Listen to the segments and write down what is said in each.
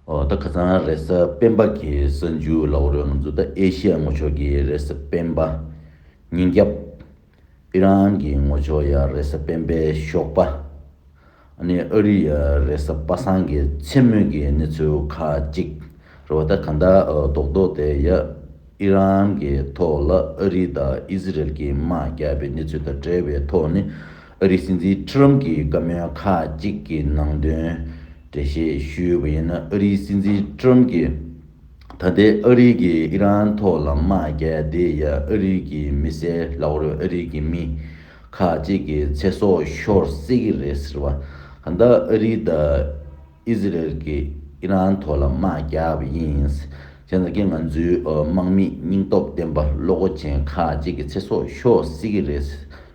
ཨོ་ད་ག་ཚང་རེས་གཟའ་སྤེན་པ་གི་ས་མཇུག་ལ་འོ་རོད་ང་ཚོ་ད་ཨེ་ཤི་ཡ་ངོ་ཕྱོགས་ཀྱི་རེས་གཟའ་སྤེན་པ། ཉིན་རྒྱབ། ཨི་རན་གྱི་ངོ་ཕྱོགས་ཡ་རེས་གཟའ་སྤེན་པའི་ཞོགས་པ། ཨ་ནི་ཨ་རི་ཡ་རེས་གཟའ་པ་སངས་ཀྱི་མཚན་སྨོད་ཀྱི་གནས་ཚུལ་ཁ་ཅིག་རེད་བ་ད་ག་འདྲ་ཨོ་རྡོག་རྡོག་དེ་ཡ། ཨི་རན་གྱི་ཐོག་ལ་ཨ་རི་དང་ཨི་ཟི་རལ་གྱི་དམག་རྒྱག་པའི་གནས་ཚུལ་དང་འབྲེལ་བའི་ཐོག་ནས་ཨ་རིའི་སྲིད་འཛིན་ཁྲི་རམ་གྱིས་བཀའ་མོལ་ཁག་ཅིག་གི་ནང་དོན་འགྲེལ་བཤད་ཞུས་པ་ཡིན་ན་ཨ་རིའི་སྲིད་འཛིན་ཁྲི་རམ་གྱིས་ད་ལྟའི་ཨ་རི་གིས་ཨི་རན་ཐོག་ལ་དམག་རྒྱག་དེ་ཡ་ཨ་རི་གི་མི་སེར་ལག་རོལ་ཨ་རི་གི་མི་ཁག་ཅིག་གི་ཚེ་སྲོག་ཤོར་སྲིད་ཀྱི་རེད་ཟེར་བ་གདའ་ཨ་རི་དང། ཨི་ཟི་རལ་གྱིས་ཨི་རན་ཐོག་ལ་དམག་རྒྱག་པ་ཡིན། དེ་ནི་ང་ཚོའི་དམག་མིས་སྙིང་སྟོབས་ལྡན་པ་བློ་སྒོ་ཅན་ཁག་ཅིག་གི་ཚེ་སྲོག་ཤོར་སྲིད་ཀྱི་རེད།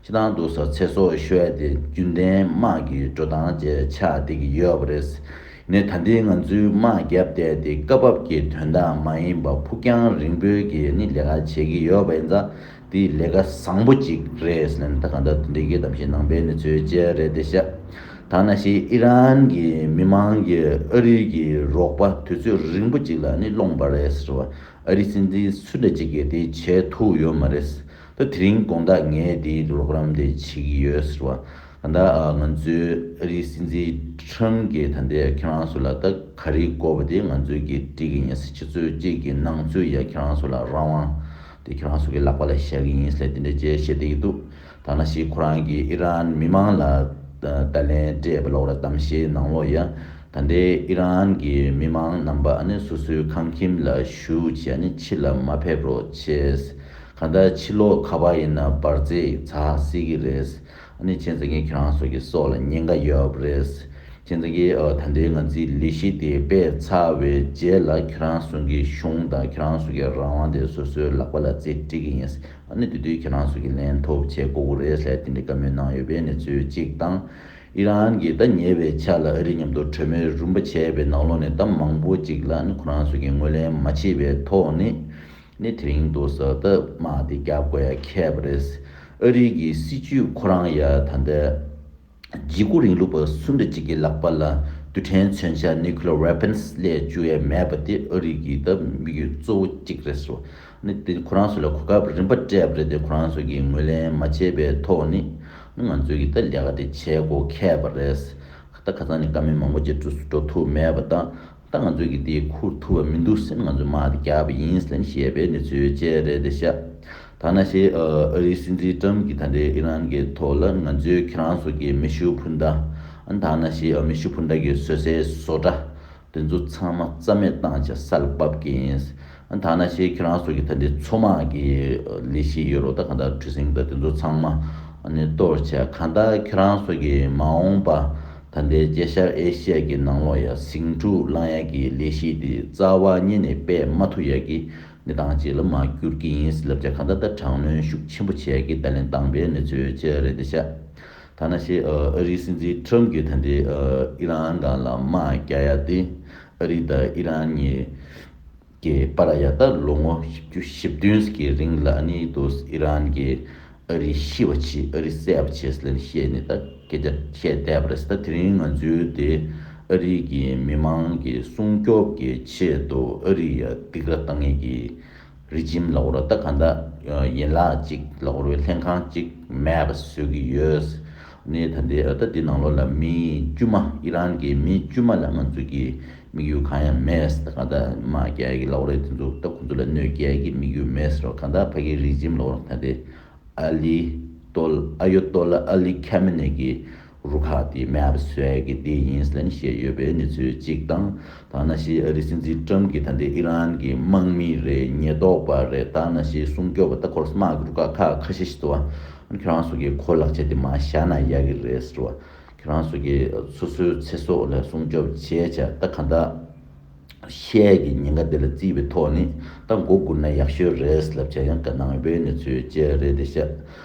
ཕྱི་ནང་དུ་སོགས་ཚེ་སྲོག་ཤོར་ཡ་དེ་རྒྱུན་ལྡན་དམག་གི་འགྲོ་སྟངས་བཅས་ཆགས་བསྡད་ཀྱི་ཡོད་པ་རེད། ནི་ད་ལྟའི་ང་ཚོའི་དམག་རྒྱབ་བསྡད་དེ་སྐབས་བབ་ཀྱི་དོན་དག་མ་ཡིན་པ་ཕུགས་རྒྱང་རིང་པོའི་གི་ནི་ལས་ཀ་བྱེད་ཀྱི་ཡོད་པ་ཡིན་ཙང། དེ་ལས་ཀ་བཟང་པོ་ཅིག་རེད་ཟེར་ན་ད་ག་འདྲ་འདི་དགེ་དམ་ཞིང་ནང་པའི་གནས་ཚུལ་བཅས་རེད་དེ་ཤ་ཐང་ན་ཤི་ཨི་རན་གྱི་མི་མང་གིས་ཨ་རི་གྱི་རོགས་པ་དུས་ཚོད་རིང་པོ་ཅིག་ལ་ནི་སློང་པ་རེད་ཟེར་བ་ཨ་རི་སྲིད་འཛིན་སུ་འདྲ་ཅིག་གིས་དེ་བྱས་ཐུབ་ཡོད་མ་རེད་ད་དེ་རིང་དགོངས་དག་ངས་དེའི་རོགས་རམ་དེ་བྱེད་ཀྱི་ཡོད་ཟེར་བ་ད་ད་ང་ཚོའི་ཨ་རི་སྲིད་འཛིན་ཁྲིམས་གྱི་ད་འདས་ཁྱེད་རང་ཚོ་ལ་ད་ག་རེ་བསྐོར་བ་དེ་ང་ཚོའི་གི་དྲི་གི་ཉེ་སྲི་ཆེ་ཚོས་གཅིག་གི་སྣང་ཚུལ་ཡ་ཁྱེད་རང་ཚོ་ལ་རང་དབང་དེ་ཁྱོད་རང་སུ་གི་ལག་པ་ལ་བཞག་གི་ཡིན་སླད་དེ་འདྲའི་རྗེས་བཤད་དེ་ཡི་འདུག་ཐ་ན་ཞིག་ཁོ་རང་གིས་ཨི་རན་མི་མང་ལ་ཏཱ་ལའི་འདྲེས་པ་ལོག་ར་བཏང་བཞེས་གནང་ལོ་ཡ། ད་ལྟའི་ཨི་རན་གི་མི་མང་རྣམ་པ་ནི་སོ་སོའི་ཁང་ཁྱིམ་ལ་བཞུགས་ཀྱིས་ནི་ཕྱི་ལ་མ་ཕེབས་རོགས་བྱས། གང་ལྟར་ཕྱི་ལོག་ཁ་བ་ཡིན་ན་འབར་རྫས་ཚགས་སྲིད་གི་རེད། ཨ་ནི་ཁྱེད་ཚང་གི་ཁྱེད་རང་ཚོ་གི་སྲོག་ལ་ཉེན་ཁ་ཡོད་པ་རེད། ཁྱེད་ཚང་གི་ད་ལྟའི་ང་ཚིའི་ལས་གཞི་དེ་སྤེལ་ཚར་བའི་རྗེས་ལ་ཁྱེད་རང་ཚོང་གི་གཞུང་དང་ཁྱེད་རང་ཚོ་གི་རང་དབང་དེ་སོ་སོའི་ལག་པ་ལ་རྩིས་སྤྲད་གི་ཡིན། ཨ་ནི་དེ་དུས་ཁྱེད་རང་ཚོ་གི་ལན་ཐོབ་ཆེད་ཀོ་ཀོ་རེས་ལྷས་དེ་འདྲའི་བཀའ་མོལ་གནང་ཡོད་པའི་གནས་ཚུལ་གཅིག་དང། ཨི་རན་གྱིས་ད་ཉེ་བའི་ཆ་ལ་ཨ་རི་མཉམ་དུ་གྲོས་མོལ་རུམ་པ་བྱས་པའི་ནང་ལོགས་ནས་ད་མང་པོ་ཅིག་ལ་ཨ་ནི་ཁོ་རང་ཚོ་གི་ངོས་ལེན་མ་བྱས་པའི་ཐོག་ནས། ནི་དེ་རིང་དུ་ཟ་སྟབས་དམག་དེ་བརྒྱབ་དགོས་ཡ་ཁྱད་པ་རེད། ཨ་རིག་གི་སྲིད་ཇུས་ཁོ་རང་ཡ་ད་འདྲ། འཇིགས་སྐུལ་རིང་ལུགས་པ་སུ་འདྲ་ཅིག་གི་ལག་པ་ལ་རྡུལ་ཕྲན་མཚོན་ཆ Nuclear Weapons སླད་བཅུག་ཡ་མེད་པ་དེ་ཨ་རིག་གི་ད་དམིགས་ཡུལ་གཙོ་བོ་གཅིག་རེད་སོ། ནི་དེ་ཁོ་རང་ཚོ་ལ་གོ་སྐབས་རིམ་པ་སྤྲད་པ་རེད་དེ་ཁོ་རང་ཚོ་གིས་ངོས་ལེན་མ་བྱས་པའི་ཐོག་ནི་ནི་ང་ཚོ་གིས་ད་ལས་ཀ་དེ་བྱེད་དགོས་ཁྱད་པ་རེད། ད་ཁ་ཚང་ནི་དཀའ་མི་མང་པོ་ཅིག་འགྲོ་ཐུབ་མེད་པ་ད། ད་ང་ཚོས་ཀྱི་དེའི་ཁུར་ཐུབ་པ་མི་འདུག་སེམས་ང་ཚོས་མར་རྒྱག་པ་ཡིན་སེམས་ཞེས་པའི་གནས་ཚུལ་བཅས་རེད་དེ་ཤ་ཐ་ན་ཤེས། ཨ་རིའི་སྲིད་འཛིན་ཀྲམ་གྱིས་ད་ལྟའི་ཨི་རན་གྱི་ཐོག་ལ་ང་ཚོས་ཁྱེད་རང་ཚོ་གྱི་མེ་ཤུགས་འཕུར་མདའ། ཐ་ན་ཤེས་མེ་ཤུགས་འཕུར་མདའ་གྱི་བཟོད་སའི་བཟོ་གྲྭ། དེ་ཚོ་ཚང་མ་རྩ་མེད་བཏང་བྱ་ས་ལ་བབ་ཀྱི་ཡིན། ཐ་ན་ཞེས་ཁྱེད་རང་སོགས་ཀྱི་ད་ལྟའི་མཚོ་དམག་གི་ལས་གཞི་ཡོད་རོགས་ད་གང་དག་ཁྲི་སེང་དང་དེ་ཚོ་ཚང་མ་ནི་གཏོར་བྱས་གང་དག་ཁྱེད་རང་སོགས་ཀྱི་མ་འོངས་པ་ད་ལྟའི་རྒྱལ་ཤར་ཨེ་ཤི་ཡ་གི་ནང་ལོགས་ཡ་ཟིང་འཁྲུག་བསླང་ཡ་གི་ལས་གཞི་དེ་རྩ་བ་རྙེད་ནས་པད་མ་ཐུག་ཡ་གི་གནས་སྟངས་གཅིག་ལ་མ་གྱུར་གི་ཡིན་ཟི་ལབ་བྱ་གང་དག་ད་དྲང་གནོན་ཤུགས་ཆེན་པོ་བྱས་ཡ་གི་ད་ལན་སྟངས་པའི་མི་ཚོའི་ཅི་རེད་འདི་བྱ་ཐ་ན་ཞེས་ཨ་རིའི་སྲིད་འཛིན Trump གྱི་ད་ལྟའི་ཨི་རན་གང་ལ་དམག་རྒྱག་ཡ་དེ་ཨ་རི་དང་ཨི་རན་གཉིས། གི་པར་ཡ་ད་ལོ་ངོ་བཅུ་བཞི་བདུན་གྱི་རིང་ལ་ནི་དུས་ཨི་རན་གྱི་ཨ་རི་ཤི་བ་ཆི་ཨ་རི་སེ་བ་ཆིས་ལན་བཤད་ནས་ད་སྐད་ཆ་བཤད་བསྡད་པ་རེད་ད་དེ་རིང་ང་ཚོའི་དེ་ཨ་རི་གི་མི་མང་གི་སྲུང་སྐྱོབ་གི་ཆེད་དུ་ཨ་རི་ཡ་སྡིག་ར་གཏང་ངེས་གི་རི་ཇིམ་ལ་འོར་ད་ག་འདྲ་ཡིན་ལགས་ཅིག་ལ་འོར་བའི་ལྷན་ཁང་ཅིག་མེད་པ་བཟོས་གི་ཡོད། ནས་ད་ལྟའི་ཨོ་ད་ལྟའི་ནང་ལོགས་ལ་མི་དཀྱུས་མ་ཨི་རན་གྱི་མི་དཀྱུས་མ་ལ་ང་ཚོས་ཀྱི་དམིགས་ཡུལ་གང་ཡང་མེད་ད་ག་ད་མ་རྒྱལ་གྱི་ལོགས་རེད་དེ་ཚོ་ད་ཁོ་ཚོ་ལ་གནོད་རྒྱལ་གྱི་དམིགས་ཡུལ་མེད་རོགས་ག་ད་ཕ་གི་རིགས་འཇིམ་ལོགས་རོགས་ད་ལྟའི་ཨ་ལི་ཏོ་ལ་ཨ་ཡོ་ཏོ་ལ་ཨ་ལི་ཁ་མི་ནེ་གི་རུ་ཁག་དེ་མེ་ཨ་བི་སུ་ཨེ་གི་དེ་ཡིན་ལན་བཤད་ཡོད་པའི་ནི་ཚོས་གཅིག་དང་ཐ་ན་ཞི་ཨ་རི་སྲིད་འཛིན་ཀྲམ་གྱིས་ད་ལྟའི་ཨི་རན་གྱི་དམག་མི་རེ་ཉེས་རྟོག་པ་རེ་དང་ན་ཞིའི་སྲུང་སྐྱོབ་པ་ལྟ་སྐོར་སྨྲ་སྒྱུར་དཀའ་ཁག་ཁ་ཤས་ཤིག་བཟོ་བ། ཁྱོད་རང་སོ་གའི་ཁོ་ལག་ཆད་དེ་མ་བཞག་ན་ཡག་གི་རེད་ཟེར་བ། ཁྱོད་རང་སོ་གའི་སོ་སོའི་ཚེ་སྲོག་ལ་སྲུང་སྐྱོབ་བྱས་ཆ་ད་ག་འདྲ། ཤས་ཀྱི་ཉེན་ཁ་དེ་ལ་བརྩིས་པའི་ཐོག་ནས་ད་མགོ་སྒུར་ན་ཡག་ཤོས་རེད་ལབ་ཆ་ཡང་ག་ནང་བའི་གནས་ཚུལ་བཅས་རེད་དེ་ཤ་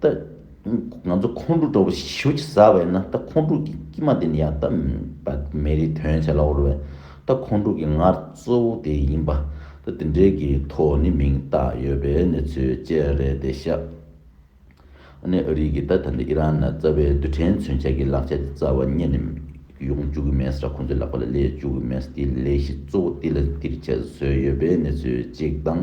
ད། ང་ཚོ་ཁོང་ཁྲོ་དྲོ་བོ་ཞིག་ཟ་བས་ན་ད་ཁོང་ཁྲོ་གི་སྐྱིད་མ་དེ་ནི་ཡང་ད་མེད་པ་མེ་རིའི་དོན་བྱ་ལ་འོར་བས་ད་ཁོང་ཁྲོ་གི་ངར་གཙོ་བོ་དེ་ཡིན་པ་ད་དེ་འདྲའི་གི་ཐོག་ནི་མིང་བཏགས་ཡོད་པའི་གནས་ཚུལ་བཅས་རེད་དེ་ཤག་ནས་ཨ་རིག་གིས་ད་ད་འདི་ཨི་རན་ན་རྩ་བའི་རྡུལ་ཕྲན་མཚོན་ཆ་གི་ལག་ཆ་དེ་རྩ་བ་རྙེད་ནས་ཡོང་བཅུག་གི་མེད་ས་ཁོང་ཚོའི་ལག་པ་ལ་སླེབས་བཅུག་གི་མེད་ས་དེའི་ལས་གཞི་གཙོ་བོ་དེ་ལ་འདིར་བྱེད་བཟོས་ཡོད་པའི་གནས་ཚུལ་གཅིག་དང།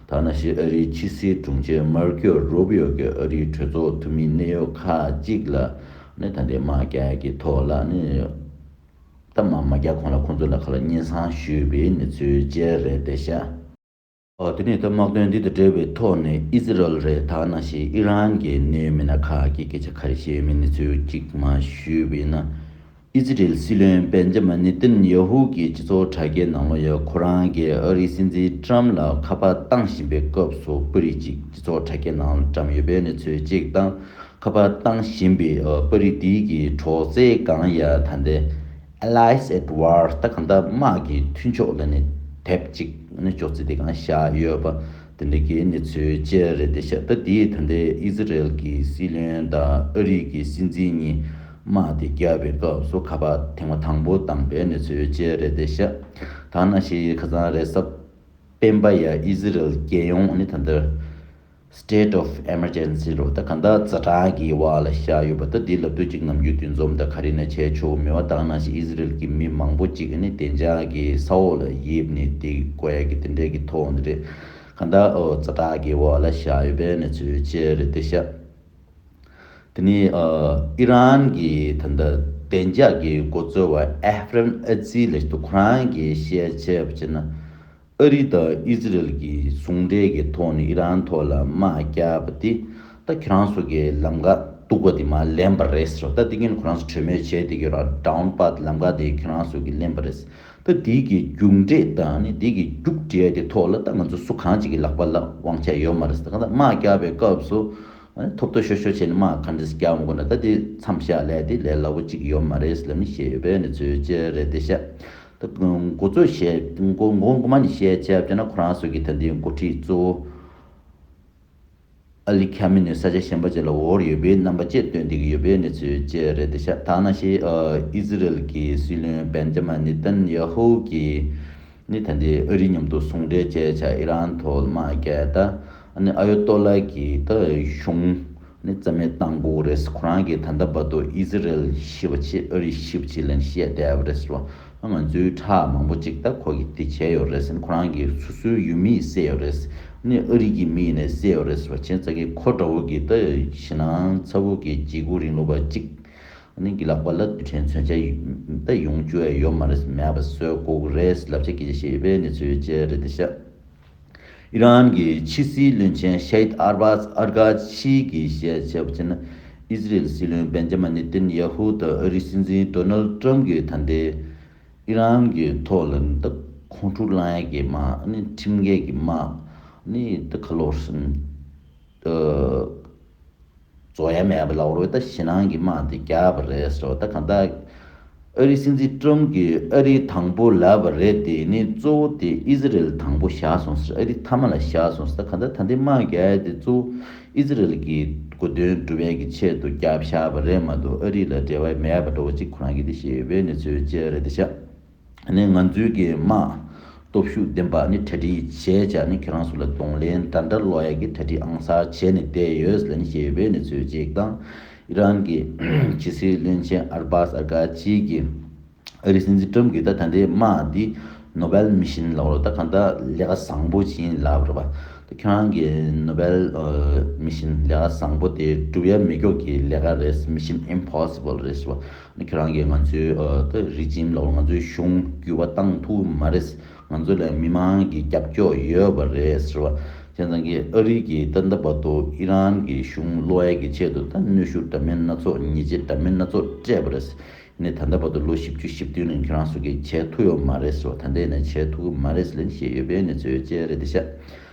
ཐ་ན་ཞི་ཨ་རིའི་ཕྱི་སྲིད་དྲུང་ཆེ་མར་ཀེའོ་རུ་བྷི་ཡོ་གིས་ཨ་རིའི་གྲོས་ཚོགས་འཐུས་མི་གནད་ཡོད་ཁག་གཅིག་ལ་ནི་ད་འདྲའི་མ་རྒྱ་ཀྱི་ཐོག་ལ་ནི་ད་མ་མ་རྒྱ་གོང་ལ་ཁོང་ཚོ་ལ་ཁ་ལ་སྙན་སང་ཞུས་པའི་ནི་ཚུལ་བཅད་རེད་དེ་ཤ། དེ་ནས་ད་དམག་དོན་འདི་དང་འབྲེལ་བའི་ཐོག་ནས་ཨི་ཟི་རལ་རེད་ཐ་ན་ཞི་ཨི་རན་གྱི་ནི་མི་སྣ་ཁག་གི་སྐད་ཆ་ཁ་རེ་བཤད་མི་ནི་ཚུལ་གཅིག་མ་ཞུས་པའི་ན། ཨི་ཛི་རེལ་སྲིད་བློན་སྦེན་ཇ་མཱ་ནི་ཏིན་ཡཱ་ཧུ་གྱིས་སྤྱི་ཚོགས་དྲ་རྒྱའི་ནང་ལོ་ཡར་ཁོ་རང་གིས་ཨ་རིའི་སྲིད་འཛིན་ཀྲམ་ལ་ཁ་པར་བཏང་བཞིན་པའི་སྐབས་སུ་པར་རིས་གཅིག་སྤྱི་ཚོགས་དྲ་རྒྱའི་ནང་བཀྲམ་ཡོད་པའི་གནས་ཚུལ་གཅིག་དང་ཁ་པར་བཏང་བཞིན་པའི་པར་རིས་དེ་གའི་གྲོགས་མཛད་སྒང་ཡ་ད་ནྡེ། Allies at War། ད་ག་ནྡ་དམག་གི་མཐུན་ཕྱོགས་ལ་ནི་དེབ་ཅིག་ནི་ཅོག་ཙེ་དེ་གང་བཞག་ཡོད་པ། དེ་འབྲེལ་གྱི་གནས་ཚུལ་བཅས་རེད་དེ་ཤ་སྟག་དེས་ད་ལྟའི་ཨི་ཟི་རེལ་གྱི་སྲིད་བློན་དང་ཨ་རིག་གི་སྲིད་འཛིན་གཉིས་དམག་དེ་རྒྱག་པའི་སྐབས་སུ་ཁ་པར་ཐེངས་མ་དང་པོ་བཏང་པའི་གནས་ཚུལ་བཅས་རེད་དེ་ཤ་སྟག་ནག་ཤེལ་ཡི་ཁ་ཚང་རེད་སཱ། སྤེན་པ་ཡ་ཨི་ཟི་རེལ་རྒྱལ་ཡོངས་ནི་ད་འདིར State of Emergency རུ་ད་གང་དག་རྩ་གྲངས་ཀྱི་བར་ལ་བཞག་ཡོད་པ་ད་འདི་ལབ་དུས་གཅིག་ནམ་རྒྱུན་དུས་འཛོམས་དང་ག་རེ་ནས་བྱས་ཆོག་མི་བ་དང་ནང་བཞིན་ཨི་ཟི་རེལ་གྱི་མི་མང་པོ་གཅིག་ནི་བདེ་འཇགས་ཀྱི་ས་འོག་ལ་དབྱིབས་ནི་སྟེགས་བཀོད་ཀྱི་དེ་འབྲེལ་གྱི་ཐོག་ནས་རེད། ཁ་འདར་འོག་རྩ་དྲག་གི་འོག་ལ་བཞག་ཡོད་པའི་གནས་ཚུལ་བཅས་རེད་དེ། ཤ་དེ་ནི་ཨི་རན་གྱི་ད་ལྟ་བདེ་འཇགས་ཀྱི་མགོ་གཙོ་བ་ཨེ་ཧྥེརན་ཨེ་ཛི་ལེ་ཏུ་ཁོ་རང་གིས་བཤད་ཆེད་དུ་བྱས་ན། ཨ་རི་དང་ཨི་ཟི་རེལ་གྱི་ཟུང་འབྲེལ་གྱི་ཐོག་ནས་ཨི་རན་ཐོག་ལ་དམག་རྒྱག་པ་དེ་ད་ཁྱོད་རང་ཚོ་གི་ལམ་ཀ་སྟུག་པ་དེ་མ་ལེན་པ་རེད་ཟེར་བ་ད་དེ་གཉིས་ནི་ཁོ་རང་ཚོ་གྲོས་མོལ་བྱས་དེ་ཀྱི་རང་དཔའ་ལམ་ཀ་དེ་ཁྱོད་རང་ཚོ་གི་ལེན་པ་རེད། ད་འདི་གི་རྒྱུགས་འབྲས་དང་ནི་འདི་གི་རྒྱུགས་འབྲས་དེ་ཐོག་ལ་ད་ང་ཚོ་སུ་གང་ཅིག་གི་ལག་པ་ལ་དབང་ཆ་ཡོད་མ་རེད་ཟེར་གང་ལྟར་དམག་རྒྱག་པའི་སྐབས་སུ་ཐོབ་ཐོ་ཤོར་ཤོར་བྱས་ནས་དམག་ག་འདྲས་རྒྱག་མ་དགོས་ན་ད་འདི་མཚམས་བཞག་ལས་དེ་ལས་སླ་བོ་ཅིག་ཡོད་མ་རེད་ཟེར་ལབ་ནི་བཤད་ཡོད་པས་ནི་ཚོས་བྱས་རེད་དེ་བཤད་ད་མགོ་ཚོས་བཤད་མགོ་མགོ་མ་ནི་བཤད་བྱས་བྱས་ན་ཁོ་རང་ཚོས་ཀྱི་ད་འདི་མགོ་ཁྲིད་གཙོ་བོ། ཨ་ལི་ཁ་མི་ནི་ས་ཆ་གཞན་པ་བཅས་ལ་འོག་རིགས་ཡོད་པའི་རྣམ་པ་བཅས་སྟོན་བསྡད་ཀྱི་ཡོད་པའི་གནས་ཚུལ་བཅས་རེད་དེ་ཤ་ཐག་ན་ཤེས། ཨི་ཟི་རལ་གྱི་སྲིད་བློན་བན་རྗ་མ་ནི་ཏན་ཡ་ཧོ་གིས་ནི་ད་འདི་ཨ་རིའི་མཉམ་དུ་ཟུང་འབྲེལ་བཅས་བྱ་ཨི་རན་ཐོག་དམག་རྒྱལ་ད་ནི་ཨ་ཡོ་ཏོ་ལ་གྱི་ད་གཞུང་ནི་རྩ་མེད་བཏང་དགོས་རེད་ཁོ་རང་གིས་ད་ལྟ་བར་དུ་ཨི་ཟི་རལ་ཞི་བ་ཆེད་ཨ་རི་ཞི་བ་ཆེད་ལན་ཞིག་ཡ་བསྡད་པ་རེད་བ། ང་ཚོའི་ཁྲག་མང་པོ་ཅིག་ད་ཁོ་གིས་དེ་བྱས་ཡོད་རེད་ཟེར་ཁོ་རང་གི་སོ་སོའི་ཡུལ་མིས་བསད་ཡོད་རེད་ཟེར་ནས་ཨ་རིག་གི་མི་ཡིན་ནས་བསད་ཡོད་རེད་ཟེར་བ་བྱས་ཙང་གི་ཁོ་དགྲ་བོ་གིས་ད་ཞི་ནང་ཚ་བོ་གིས་བརྗེ་སྒུག་རིང་ལུགས་པ་ཅིག་ནི་གི་ལག་པ་ལ་རྡུལ་ཕྲན་མཚོན་ཆ་ད་ཡོང་བཅུ་ཡ་ཡོད་མ་རེད་མེད་པ་བཟོས་སྒུག་རེད་ཟེར་ལབ་ཆ་སྐྱེ་ཆ་ཤེས་ཡོད་པའི་གནས་ཚུལ་བཅས་རེད་དེ་ཤ། ཨི་རན་གྱི་ཕྱི་སྲིད་བློན་ཆེན Sheikh Abbas Araghchi གྱིས་བཤད་བྱས་པ་ཕྱིན་ན། ཨི་ཟི་རེལ་སྲིད་བློན་བན་ཇེ་མ་ནེ་ཏན་ཡ་ཧུ་དང་ཨ་རིའི་སྲིད་འཛིན Donald Trump གྱི་ཐ་དད། ཨི་རན་གྱི་མཐོ་རླབས་དང་ཁོང་ཁྲོ་བསླངས་ཡས་ཀྱི་དམག་ཁྲིམས་འགལ་གྱི་དམག་ནི་དང་ཁ་ལོ་ཧྲིན། ཏོག། རྫོགས་ཡ་མེད་པ་ལ་འོ་ད་ཞི་ནང་གི་དམག་དེ་རྒྱག་པ་རེད་ཟེར་བ་ད་གང་ལྟ། ཨ་རིའི་སྲིད་འཛིན་ཀྲོམ་གྱི་ཨ་རིའི་དང་པོ་ལབ་པ་རེད་དེ་ནི་གཙོ་བོ་དེ་ཨི་ཟི་རེལ་དང་པོ་བཞག་སོང་ཟེར་ཨ་རི་ཐ་མ་ལ་བཞག་སོང་ཟེར་ད་གང་ལྟ་ད་འདི་དམག་རྒྱག་ཡ་དེ་གཙོ་བོ་ཨི་ཟི་རེལ་གྱི་དགོས་དོན་སྒྲུབ་ཡ་གི་ཆེད་དུ་རྒྱག་བཞག་པ་རེད་མ་གཏོགས་ཨ་རི་ལ་འབྲེལ་བ་མེད་པ་འགྲོ་བ་གཅིག་ཁོ་རང་གི་དེ་ཤེས་ཡོད་པའི་གནས་ཚུལ་བཅས་རེད་དེ་ཤ། ནས་ང་ཚོའི་གི་དམག་སྟོབས་ཤུགས་ལྡན་པ་ནི་གྲ་སྒྲིག་བྱས་ཅག་ནི་ཁྱེད་རང་ཚོ་ལ་གདོང་ལེན་འདྲ་འདྲ་ལོ་ཡག་གི་གྲ་སྒྲིག་ཨང་གསར་བྱས་ནས་བསྡད་ཡོད་ལན་ཞེས་བོད་ནས་ཚོས་གཅིག་དང་ཨི་རན་གི་ཕྱི་སྲིད་བློན་ཆེན་ཨར་སྦཱ་སཱར་ཀཱ་ཅིས་གི་ཨ་རིའི་སྲིད་འཛིན་ཀྲོམ་གི་ད་ད་འདྲའི་དམག་འདི་ནོ་བེལ་མི་བཞིན་ལགས་རོ་ད་གང་ད་ལས་ཀ་བཟང་པོ་བྱིན་ལབ་རོ་བ་ད་ཁྱོད་རང་གི་ནོ་བེལ་མི་བཞིན་ལས་ཀ་བཟང་པོ་དེ་སྒྲུབ་ཡ་མི་ཀྱོག་གི་ལས་ཀ་རེད་མི་བཞིན་ཨིམ་ཕོ་སི་བོལ་རེད་བ། ཁྱེད་རང་གིས་ང་ཚོའི་རི་ཇིམ་ལ་ང་ཚོའི་གཞུང་བརྒྱུད་པ་བཏང་ཐུབ་ཀྱི་མ་རེད། ང་ཚོ་ལ་མི་མང་གི་རྒྱབ་སྐྱོར་ཡོད་པ་རེད་ཟེར་བ། ཁྱེད་རང་གིས་ཨ་རི་གི་ཏཱ་ནྟ་བར་དུ་ཨི་རན་གྱི་གཞུང་བློ་ཡལ་གྱི་ཆེད་དུ་ད་གནོད་ཤུགས་འདྲ་མིན་སྣ་ཚོགས་ཉེས་ཆད་འདྲ་མིན་སྣ་ཚོགས་སྤྲད་པ་རེད། ནས་ད་ལྟ་བར་དུ་ལོ་བཞི་བཅུ་བཞི་བདུན་རིང་ཁྱེད་རང་སུ་གིས་བྱས་ཐུབ་ཡོད་མ་རེད་ཟེར་བ་ད་ལྟའི་ནས་བྱས་ཐུབ་ཀྱི་མ་རེད་ལེན་བཤད་ཡོད་པའི་ནས་ཚོད་བཅད་རེད་དེ་ཤག་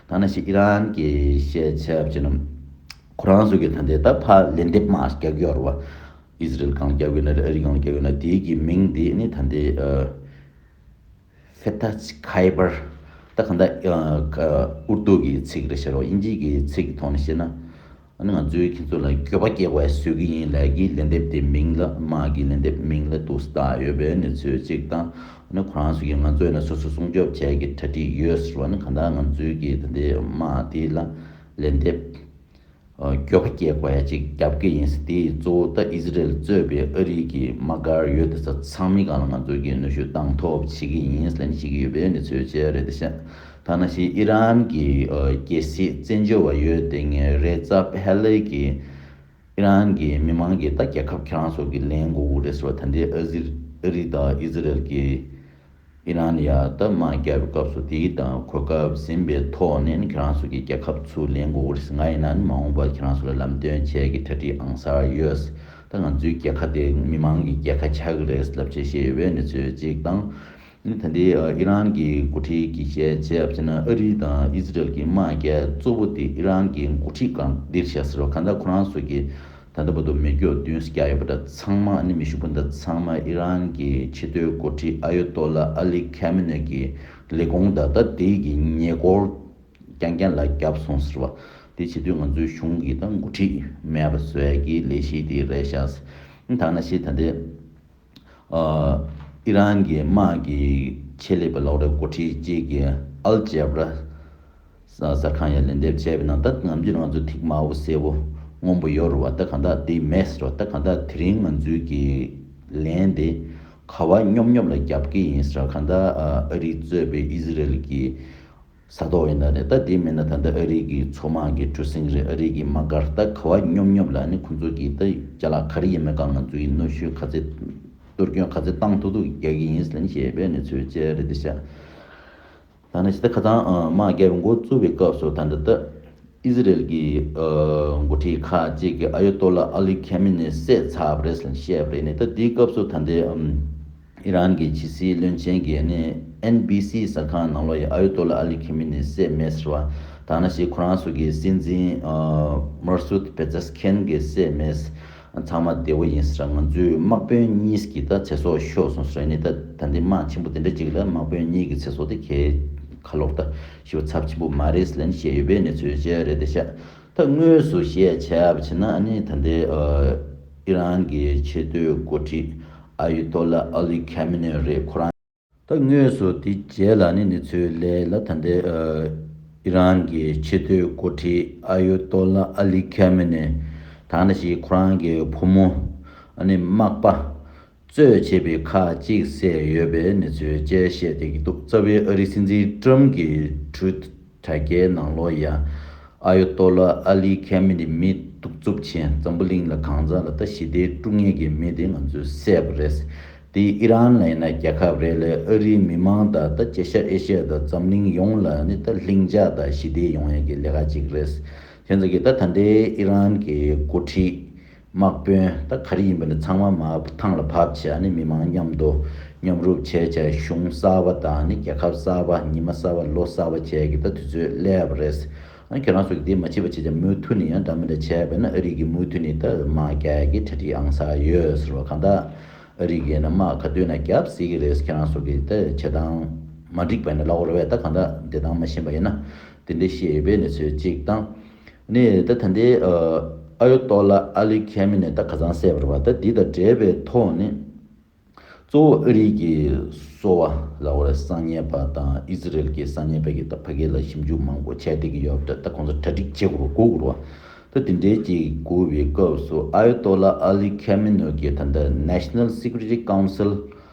ད་ནས་ཤི་ཨི་རན་གྱི་བཤད་ཆབ་ཅི་ནམ། ཁོ་རང་སུ་གིས་ད་ལྟའི་ད་ཕ་ལེན་དེབ་དམག་རྒྱག་གི་ཡོད་རེད་བ། ཨི་ཟི་རེལ་གང་རྒྱབ་ཡོད་ན་རེད་ཨ་རི་གང་རྒྱབ་ཡོད་ན་དེའི་གི་མིང་དེ་ནི་ད་འདི་ཧྥེ་ཐ་ཚི་ཁའི་པར་ད་ག་འདའ་ཨུར་ཏུ་གི་ཚིག་རེད་ཤེས་རོགས་དབྱིན་ཇིའི་གི་ཚིག་གི་ཐོག་ནས་བཤད་ན་ཨ་ནི་ང་ཚོའི་ཁྱེད་ཚོ་ལ་སྐྱོ་བ་སྐྱེ་བ་ཞུ་གི་ཡིན་ལས་གི་ལན་འདེབས་དེ་མིང་ལ་དམག་གི་ལན་འདེབས་མིང་ལ་དུ་ཟླ་ཡོད་པའི་གནས་ཚུལ་གཅིག་དང་ཨ་ནི་ཁོ་རང་ཚོ་གི་ང་ཚོས་ནི་སོ་སོ་སྲུང་སྐྱོབ་བྱས་གི་གྲ་སྒྲིག་ཡོད་ཟེར་བ་ནི་ག་འདའ་ང་ཚོའི་གི་ད་འདི་དམག་དེ་ལ་ལན་འདེབས། གྱོ་ག་སྐྱེ་བའི་ཅིག་རྒྱབ་ཀྱི་ཡིན་སྲིད་དེའི་གཙོ་བོ་ད་ཨི་ཟི་རེལ་གཙོས་པའི་ཨ་རིའི་གི་དམག་སྒར་ཡོད་དེ་ས་ཚང་མི་གང་ལ་ང་ཚོས་གི་གནོད་ཤུགས་གཏང་ཐོབ་བྱེད་ཀྱི་ཡིན་ལེན་བྱེད་ཀྱི་ཡོད་པའི་འདི་ཚོའི་ཆེད་རེད་དེ་ཤ་ཐ་ན་ཤི་ཨི་རན་གི་གྱེ་སྲིད་བཙན་བྱོལ་བ་ཡོད་དེ་ངའི་རེ་རྩ་ཕལ་ལེ་གི་ཨི་རན་གི་མི་མང་གི་ད་རྒྱལ་ཁབ་ཁྱེད་རང་སོགས་གི་ལེན་དགོ་གུ་རེད་ཟེར་བ་ད་འདི་ཨ་ཟི་ཨ་རི་ད་ཨི་ཟི་རེལ་གི། ཨི་རན་ཡ་དག་དམག་རྒྱག་པའི་སྐབས་སུ་དེའི་དང་གོ་སྐབས་ཟིན་པའི་ཐོག་ནས་ཁྱེད་རང་ཚོ་གི་རྒྱལ་ཁབ་ཚུར་ལེན་དགོས་རེད་ང་ཡིན་ན་མ་འོངས་པར་ཁྱེད་རང་ཚོ་ལ་ལམ་སྟོན་བྱེད་ཀྱི་གྲ་སྒྲིག་ཨང་གསར་ཡོད་ད་ང་ཚོའི་རྒྱལ་ཁ་དེ་མི་མང་གི་རྒྱལ་ཁ་ཆགས་ཀྱི་རེད་ཟེར་ལབ་བྱེད་བཤད་ཡོད་པའི་གནས་ཚུལ་གཅིག་དང། ད་ལྟའི་ཨི་རན་གྱི་འགོ་ཁྲིད་ཀྱི་བཤད་བྱས་བྱས་ན་ཨ་རི་དང་ཨི་ཟི་རལ་གྱི་དམག་རྒྱག་གཙོ་བོ་དེ་ཨི་རན་གྱི་འགོ་ཁྲིད་གང་འདིར་བྱས་ཟེར་བ་ག་འདྲ་ཁོ་རང་ཚོ་གི་ད་ལྟ་བར་དུ་མི་སྐྱོག་བདུན་བརྒྱ་ཡོད་པ་འདྲ་ཚང་མ་ནི་མི་ཤུགས་པོ་འདྲ་ཚང་མ་ཨི་རན་གྱི་ཕྱི་སྡོད་མགོ་ཁྲིད་ཨ་ཡོ་ཏོ་ལ་ཨ་ལི་ཁཱ་མེ་ནོས་ཀྱི་ལས་དགོངས་ད་ལྟ་དེ་ཡི་ཉེ་སྐོར་རྐྱང་རྐྱང་ལ་བརྒྱབ་སོང་ཟེར་བ་དེ་བྱེད་དུས་ང་ཚོའི་གཞུང་གི་ད་མགོ་ཁྲིད་མེད་པ་ཟོལ་གྱི་ལས་གཞི་དེ་རེད་ཤག་སེ་ད་ང་ཤེས་ད་ལྟའི་ཨི་རན་གྱི་དམག་གི་ཆེད་ལས་པའི་ལག་རོགས་འགོ་ཁྲིད་ཅིག་གིས་ཨལ་ཇེ་བྷ་ར་གསར་ཁང་ཡང་ལན་འདེབས་བྱས་པའི་ནང་ད་ང་ཚོས་ང་ཚོའི་ཐིག་དམར་བོ་སེར་བོ་སྔོན་པོ་ཡོད་རུང་བ་ད་གང་དག་དེ་མེད་ཟེར་བ་ད་གང་དག་དེ་རིང་ང་ཚོའི་གི་ལན་དེ་ཁ་བ་སྙོབ་སྙོབ་ལ་རྒྱབ་ཀི་ཡིན་ཟེར་བ་གང་དག་ཨ་རིས་གཙོས་པའི་ཨི་ཟི་རལ་གྱི་ས་ཐོག་ཡིན་ན་རེད་ད་དེ་མིན་ན་ད་ལྟ་ཨ་རིག་གི་ཚོགས་དམག་གི་གྲུ་གཟིངས་རེད་ཨ་རིག་གི་དམག་སྒར་ད་ག་བ་སྙོབ་སྙོབ་ལ་ནི་ཁོང་ཚོ་གིས་ད་རྒྱ་ལག་ག་རེ་ཡིན་མེད་ག་ང་ཚོ་ཡི་གནོད་ཤུལ་ག་ཚེ་གཏོར་སྐྱོན་ག་ཚེ་བཏང་ཐུག་ཐུག་རྒྱག་གི་ཡིན་ཟེར་ནི་བཤད་པའི་ནི་ཚོས་བཅད་རེད་ད་ཤ་ད་ནི་ཤ་ད་ཁ་ཚང་དམག་རྒྱལ་མགོ་བཙུགས་པའི་སྐབས་སུ་ད་འདི་ད་ཨི་ཟི་རེལ་གི་མགོ་ཁྲིད་ཁ་ཅིག་གི་ཨ་ཡོ་ཏོ་ལ་ཨ་ལི་ཁེ་མི་ནི་བསད་ཚར་བ་རེད་ཟེར་ནི་བཤད་པ་རེད་ནི་ད་དེའི་སྐབས་སུ་ད་འདི་ཨི་རན་གྱི་ཕྱི་སྲིད་བློན་ཆེན་གྱིས་ནི་ཨེན་བྷི་སི་གསར་ཁང་ནང་ལོ་ཡི་ཨ་ཡུ་ཏོ་ལ་ཨ་ལི་ཁི་མི་ནི་སེ་མེ་སི་ར་དང་ན་ཞིག་ཁོ་རང་སོགས་ཀྱི་སྲིད་འཛིན་མར་སུད་པེ་ཛེ་སི་ཁེན་གྱི་སེ་མེ་སི་ཚང་མ་བདེ་བོ་ཡིན་སི་ར་ང་ཚོའི་དམག་དཔོན་གཉིས་ཀྱི་ད་ཚེ་སྲོག་ཤོར་སོང་སི་ར་ནི་ད་ད་འདི་དམག་ཆེན་པོ་དེ་འདྲ་གཅིག་ལ་དམག་དཔོན་གཉིས་ཀྱི་ཚེ་སྲོག་དེ་ཁྱེད་ཁ་ལོག་ད་ཤི་བ་ཚབས་ཆེན་པོ་མ་རེད་སི་ལན་བཤད་ཡོད་པའི་གནས་ཚུལ་བཅས་རེད་དེ་ཤ་ད་དངོས་སུ་བཤད་བྱ་བྱས་ན་ནི་ད་ལྟའི་ཨི་རན་གྱི་ཆེས་མཐོའི་འགོ་ཁྲིད་ཨ་ཡུ་ཏོ་ལ་ཨ་ལི་ཁེ་མི་ནེ་རེད་ཁོ་རང། ད་དངོས་སུ་དེ་རྗེས་ལ་ནི་ནི་ཚོས་ལས་ལ་ད་ལྟའི་ཨི་རན་གྱི་ཆེས་མཐོའི་འགོ་ཁྲིད་ཨ་ཡུ་ཏོ་ལ་ཨ་ལི་ཁེ་མི་ནེ་དང་འདྲ་ཞིག་ཁོ་རང་གི་བུ་མོ་ཨ་ནི་མག་པ་གཙོས་བྱས་པའི་ཁག་གཅིག་བསད་ཡོད་པའི་གནས་ཚུལ་བཅས་བཤད་བསྡད་ཀྱི་འདུག་རྩ་བའི་ཨ་རིའི་སྲིད་འཛིན་ཀྲུམ་གྱི་དྲུད་དྲ་རྒྱའི་ནང་ལོ་ཡ། ཨ་ཡོ་ཏོ་ལ་ཨ་ལི་ཁེ་མི་ནི་མི་གཏུག་རྩུབ་ཆེན་འཛམ་བུ་གླིང་ལ་གང་ཟག་ལ་ལྟ་ཞི་བདེའི་དཀྲུག་ངན་གྱི་མི་དེ་ང་ཚོས་བསད་པ་རེད། དེ་ཨི་རན་ལ་ཡིན་ན་རྒྱལ་ཁབ་རེ་ལས་ཨ་རིའི་མི་མང་དང་ད་ཅེ་ཤ་ཨེ་ཤ་དང་འཛམ་གླིང་ཡོངས་ལ་ནི་ད་ལྷིང་འཇགས་དང་ཞི་བདེ་ཡོང་ཡན་གྱི་ལས་ཀ་གཅིག་རེད། དེ་ཚོ་གི་ད་ད་ལྟའི་ཨི་རན་གྱི་འགོ་ཁྲིད། དམག་དཔོན་ད་ག་རེ་ཡིན་པ་ནི་ཚང་མ་མ་ཐང་ལ་བབས་ཆེ་ཡང་ནི་མི་མང་མཉམ་དུ་མཉམ་རུབ་བྱས་བྱས་གཞུང་གསར་བ་དང་ནི་རྒྱལ་ཁབ་གསར་བ་ཉི་མ་གསར་བ་ལོ་གསར་བ་བྱས་ཀྱི་ད་དུས་ཚོད་སླེ་ཡ་བ་རེད། ཨ་ཁྱོད་རང་ཚོ་གི་དེ་མ་བྱེད་པ་བྱེད་ཅིང་མུའུ་ཐུ་ནི་ཡང་འདྲ་མི་འདྲ་བྱས་པས་ན་ཨ་རིག་གི་མུའུ་ཐུ་ནི་ད་དམག་རྒྱལ་གྱི་གྲ་སྒྲིག་ཨང་ས་ཡོད་ཟེར་བ་གང་ད་ཨ་རིག་གི་ན་དམག་ག་དུས་ན་རྒྱབ་སྲིད་ཀྱི་རེད་ཁྱོད་རང་ཚོ་གི་ད་བྱེད་སྟངས་མ་འགྲིག་པས་ན་ལ་ཨོ་ར་བས་ད་གང་ད་བདེ་ཐང་མ་ཤེས་པ་ཡིན་ན་དེ་འདྲ་བཤད་ཡོད་པས་ནི་ཚོད་གཅིག་དང། ནས་ད་ད་ནྡེ་ཨ་ཡོ་ཏོ་ལ་ཨ་ལི་ཁ་མི་ནས་ད་ག་ཚང་སད་པར་བ་ད་འདི་དང་འབྲེལ་པའི་ཐོག་ནས། གཙོ་བོ་ཨ་རིག་གི་སོ་བ་ལ་བར་གསང་ཉན་པ་དང་ཨི་ཟི་རལ་གི་གསང་ཉན་པ་གི་ད་ཕ་གི་ལ་ཞིབ་འཇུག་མང་པོ་བྱས་བསྡད་གི་ཡོད་པ་ད་ད་ཁོང་ཚོ་གྲ་སྒྲིག་བྱེད་དགོས་པ་གོ་དགོས་ར་བ་ད་དེ་འདྲའི་བྱེད་དགོས་བའི་སྐབས་སུ་ཨ་ཡོ་ཏོ་ལ་ཨ་ལི་ཁ་མི་ནོ་གི་ད་ནྡེ National Security Council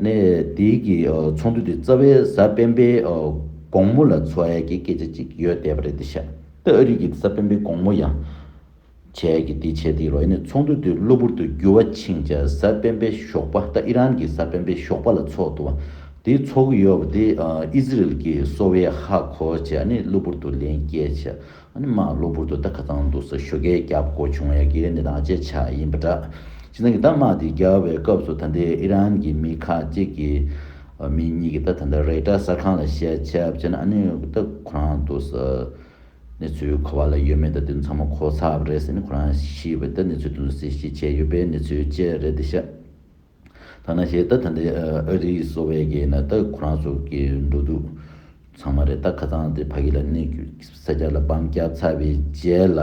གནས་དེའི་གི་ཚོང་དུད་དེ་རྩ་བའི་གཟའ་སྤེན་པའི་དགོང་མོ་ལ་འཚོ་ཡ་གི་སྐད་ཆ་ཅིག་ཡོད་བསྡད་པ་རེད་དེ་ཤ་སྟག་ཨ་རིག་གི་གཟའ་སྤེན་པའི་དགོང་མོ་ཡང་བྱས་ཡ་གི་དེ་བྱས་དེའི་རོ་ཡེ་ནས་ཚོང་དུད་དེ་གློ་བུར་དུ་རྒྱུ་བ་ཕྱིན་ཅ་གཟའ་སྤེན་པའི་ཞོགས་པ་ད་ཨི་རན་གི་གཟའ་སྤེན་པའི་ཞོགས་པ་ལ་འཚོགས་འདུག་བ་དེ་འཚོགས་གི་ཡོད་བ་དེ་ཨི་ཟི་རལ་གི་སོ་བའི་ཧ་གོ་བྱས་ཨ་ནི་གློ་བུར་དུ་ལན་སྐྱེལ་བྱས་ཨ་ནེ་མ་གློ་བུར་དུ་ད་ག་ཙང་འདུག་ས་ཤོ་གས་བརྒྱབ་དགོས་བྱུང་ཡ་གི་འདི་དང་གཅད་ཆག་ཡིན་པ་འདྲ། ཅི་ནང་གི་ད་དམག་དེ་རྒྱལ་བའི་སྐབས་སུ་ད་འདའི་ཨི་རན་གི་མི་ཁ་ཅིག་གི་མི་གཉིས་གི་ད་ད་འདའ་རེག་ཏྲ་གསར་ཁང་ལ་བཤད་ཆད་བྱས་ན་ཨ་ནེ་ད་ཁོ་རང་འདུག་ས་ནེ་ཚོའི་ཁ་བ་ལ་ཡོད་མེད་ད་དེ་ཚང་མ་གོ་ཚག་རེད་ཟེར་ནས་ཁོ་རང་ཤི་བའི་ད་ནེ་ཚོའི་དུས་སུ་སེ་ཤི་བྱས་ཡོད་པའི་ནེ་ཚོའི་དཔྱད་རེད་འདི་ཤ། ཐ་ན་ཞེས་ད་ད་འདི་ཨོ་རི་སོ་བས་ཀྱི་ན་ད་ཁོ་རང་ཚོ་ཀྱི་འགྲོ་འདུག་ཚང་མ་རེད་ད་ཁ་ཚང་དེ་ཕ་གི་ལ་ནི་གུ་ས་སྐྱ་ལ་བམ་སྐྱ་ཚ་བའི་རྗེས་ལ་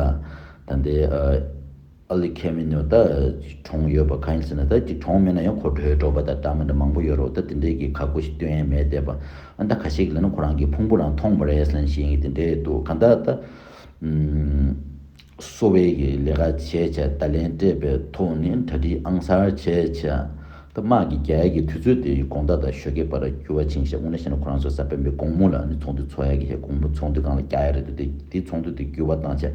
ད་འདི་ཨ་ལི་ཁེ་མི་ནོ་ད་གྲོང་ཡོད་པ་གང་ཡིན་ཟེར་ན་ད་ཀྱི་གྲོང་མེད་ན་ཡང་གོ་དྲོའི་འབྲོག་པ་དང་སྦྲགས་མི་འདྲ་མང་པོ་ཡོད་རོགས་ད་དེ་འདྲས་ཀྱི་ཁག་པོ་ཞིག་སྟོན་ཡས་མེད་བལྟས་པ་ད་ག་ཞིག་ལ་ན་ཁོ་རང་གི་ཕུང་པོ་རང་མཐོང་མ་རེད་ལན་ཞིག་ཡིན་གྱི་དེ་འདྲས་འདུག་གང་ལྟར་ད། གསོ་བའི་གི་ལས་ཀ་བྱས་བྱས་བརྡ་ལན་སྤྲད་པའི་ཐོག་ནས་གྲ་སྒྲིག་ཨང་གསར་བྱས་བྱས་ད་དམག་གི་རྒྱ་ཡལ་གི་དུས་ཚོད་དེ་དགོངས་དག་དང་ཞོ་ཁའི་བར་འགྱུར་བ་ཕྱིན་བྱས་སྔོན་ལ་བཤད་ན་ཁོ་རང་ཚོའི་ས་བོན་པའི་དགོང་མོ་ལ་ནི་ཚོང་དུད་འཚོ་ཡག་གི་བྱས་དགོང་མོ་ཚོང་དུད་གང་ལ་རྒྱ་ཡལ་རེད་འདུག་དེ་དེ་ཚོང་དུད་དེ་འགྱུར་བ་བཏང་བྱས་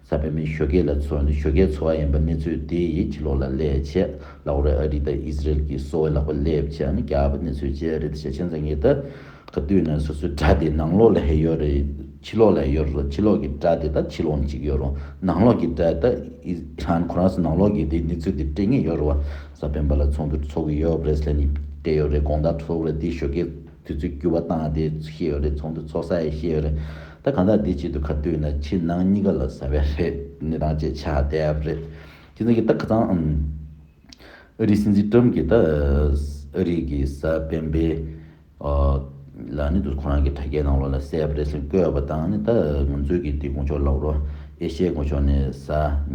ས་བོན་པའི་ཞོ་ཁའི་ལ་འཚོ་ནི་ཞོ་ཁའི་འཚོ་བ་ཡིན་པ་གནས་ཚུལ་དེ་ཡི་ཕྱི་ལོག་ལ་སླེབས་བྱས་ལ་ཨོ་རེད་ཨ་རི་དང་ཨིས་རལ་གི་གསོ་བའི་ལག་པ་སླེབས་བྱས་ནི་རྒྱ་བལ་པོ་གནས་ཚུལ་བྱས་རེད་བྱས་བྱས་མཚན་གྱི་ད། ག་དུས་ནས་སོ་སོའི་སྒྲ་དེ་ནང་ལོགས་ལ་ཧེ་ཡོད་རེད་ཕྱི་ལོགས་ལ་ཡོད་རེད་ཕྱི་ལོགས་ཀྱི་སྒྲ་དེ་དང་ཕྱི་ལོགས་གཅིག་ཡོད་རུང་ནང་ལོགས་ཀྱི་སྒྲ་དེ་དང་ཁོ་རང་ཚོ་ནང་ལོགས་ཀྱི་དེ་གནས་ཚུལ་དེ་སྤྲད་ངེས་ཡོད་རེད་བ་ས་སྤེན་པ་ལ་ཚོགས་འདུ་འཚོགས་ཀྱི་ཡོད་རེད་ཟེར་ནས་བསྡད་ཡོད་རེད་དགོངས་དག་འཚོགས་རེད་དེ་ཞོ་ཀའི་དུས་ཚོད་བསྐྱུར་བ་བཏང་ཡ་དེ་ཤེས་ཡོད་རེད་ཚོགས་འདུ་འཚོགས་ས་ཡ་ཤེས་ཡོད་རེད་ད་གང་ཟག་དེ་ཆེད་དུ་ག་དུས་ནས་ཕྱི་ནང་གཉིས་ཀ་ལ་ཟ་བའི་རེད་གནས་སྟངས་བཅས་ཆགས་བསྡད་ཡ་རེད་ཁྱེད་ཚོ་གིས་ད་ག་ཚང་ཨ་རིའི་སྲིད་འཛིན་ཀྲོམ་གྱིས་ད་ཨ་རིའི་གི་ས་སྤེན་པའི་ལ་ནི་དུས་ཁོ་རང་གི་དྲ་རྒྱའི་ནང་ལོགས་ལ་གསལ་བར་རེ་ཟུང་བཀོད་པ་དང་ནི་ད་ང་ཚོའི་གི་འདི་དགུང་ཕྱོགས་ལག་རོ་ཨེ་ཤའི་དགུང་ཕྱོགས་ནི་ས་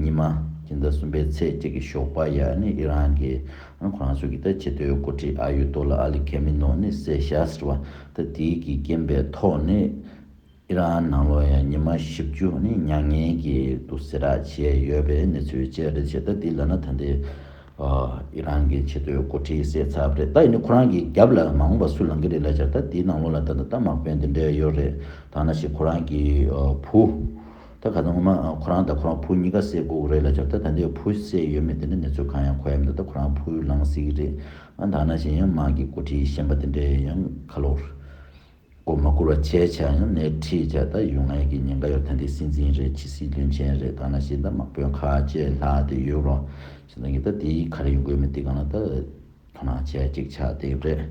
ཉི་མ་གི་ཟླ་གསུམ་པའི་ཚེས་གཅིག་གི་ཞོགས་པ་ཡ་ནི་ཨི་རན་གི་ཨ་ཁོ་རང་ཚོའི་གི་ད་ཆེ་མཐོའི་མགོ་ཁྲིད་ཨ་ཡུ་ཏོ་ལ་ཨ་ལི་ཁེ་མི་ནོ་ནི་སེ་ཤཱས་ར་བ་ད་དེའི་གི་རྐྱེན་པའི་ཐོག་ནི། ཨི་རན་ནང་ལོ་ཡ་ཉི་མ་བཞི་བཅུ་ནི་མྱ་ངན་གྱི་དུག་སེལ་ར་བྱས་ཡོད་པའི་གནས་ཚུལ་བཅས་རེད་བྱས་ད་འདི་ལ་ན་ད་འདི་ཨི་རན་གྱི་ཆེ་བསྟོད་མགོ་ཁྲིད་གསད་ཚབ་རེད་ད་ཡིན་ནི་ཁོ་རང་གི་རྒྱབ་ལ་མ་འོངས་པ་སུ་ལང་གི་རེད་ལ་བྱས་ད་འདི་ནང་ལོ་ལ་ད་ད་ད་མག་པན་འདི་འདྲས་ཡོད་རེད་ད་ན་ཞིག་ཁོ་རང་གི་བུ། ད་ག་ད་ངོ་མ་ཁོ་རང་ད་ཁོ་རང་བུ་གཉིས་ཀ་བསད་དགོས་གི་རེད་ལ་བྱས་ད་ད་འདི་བུ་བསད་ཡོད་མེད་འདི་འདྲ་གནས་ཚུལ་གང་ཡང་གོ་ཡ་མི་འདུག་ད་ཁོ་རང་བུ་ལང་སྲིད་གི་རེད་ཨང་ད་ན་ཞིག་ཡང་མག་གི་མགོ་ཁྲིད་གཞན་པ་འདི་འདྲས་ཡང་ཁ་ལོ། སྒོར་མོ་བསྐུར་བ་བཅས་བྱས་ཡང་སྣེ་ཁྲིད་བྱས་སྟབས་ཡུལ་དངོས་ཀྱི་ཉེན་ཁ་ཡོད་དོན་དེ་སྲིད་འཛིན་རེད་ཕྱི་སྲིད་བློན་ཆེན་རེད་གང་ལ་ཤེས་ད་དམག་དཔོན་ཁ་ལྕེ་ལྷག་དེ་ཡོད་རོགས་ཞེས་ད་ངེད་ད་དེ་ཡིས་ག་རེ་ཡོང་གི་ཡོད་མེད་དེ་གང་ལ་ད་དོ་སྣང་བྱས་གཅིག་ཆགས་བསྡད་ཡོད་རེད།